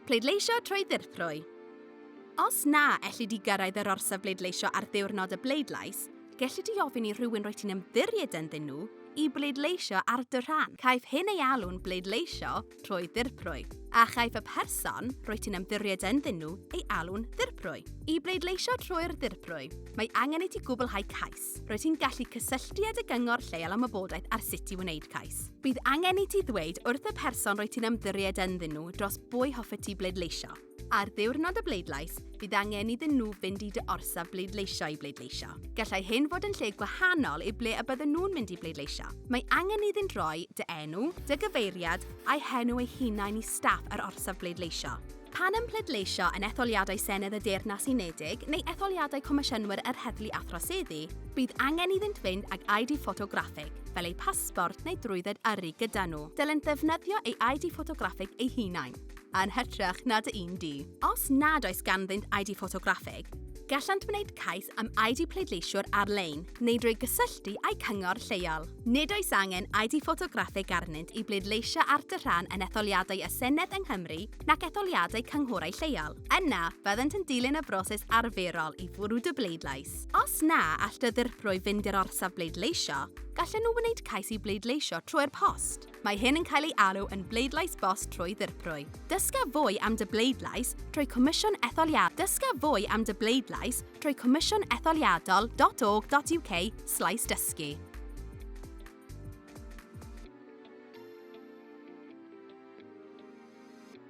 Pleidleisio trwy ddirprwy. Os na elli di gyrraedd yr orsaf bleidleisio ar ddiwrnod y bleidlais, gelli di ofyn i rhywun rwy ti'n ymddiried ynddyn nhw i bleidleisio ar dy rhan. Caiff hyn ei alw'n bleidleisio trwy ddirprwy, a chaiff y person rwy ti'n ymddiried ynddyn nhw ei alw'n ddirprwy. I bleidleisio trwy'r ddirprwy, mae angen i ti gwblhau cais. cais, rwyt ti'n gallu cysylltu â dy gyngor lleol am wybodaeth ar sut i wneud cais. Bydd angen i ti ddweud wrth y person rwyt ti'n ymddiried ynddyn nhw dros bwy hoffet ti bleidleisio. Ar ddiwrnod y bleidlais, bydd angen iddyn nhw fynd i dy orsaf bleidleisio i bleidleisio. Gallai hyn fod yn lle gwahanol i ble y bydden nhw'n mynd i bleidleisio. Mae angen iddynt roi dy enw, dy gyfeiriad, a'u henw eu hunain i staff yr orsaf bleidleisio. Pan yn pleidleisio yn etholiadau Senedd y Deyrnas Unedig neu etholiadau Comisiynwyr yr Heddlu a Throseddu, bydd angen iddynt fynd ag ID ffotograffig, fel eu pasbort neu drwydded yrru gyda nhw. Dylent ddefnyddio ei ID ffotograffig eu hunain, yn hytrach na dy un di. Os nad oes ganddynt ID ffotograffig, gallant wneud cais am ID pleidleisiwr ar-lein neu drwy gysylltu â'u cyngor lleol. Nid oes angen ID ffotograffig arnynt i bleidleisio ar dy rhan yn etholiadau y Senedd yng Nghymru nac etholiadau cynghorau lleol. Yna, byddant yn dilyn y broses arferol i fwrw dy bleidlais. Os na all dy ddirprwy fynd i'r orsaf bleidleisio, gallen nhw wneud cais i bleidleisio trwy'r post. Mae hyn yn cael ei alw yn bleidlais bost trwy ddirprwy. Dysga fwy am dy bleidlais trwy Comisiwn Etholiadol. Dysga fwy am dy bleidlais trwy Comisiwn Etholiadol.org.uk slaes dysgu.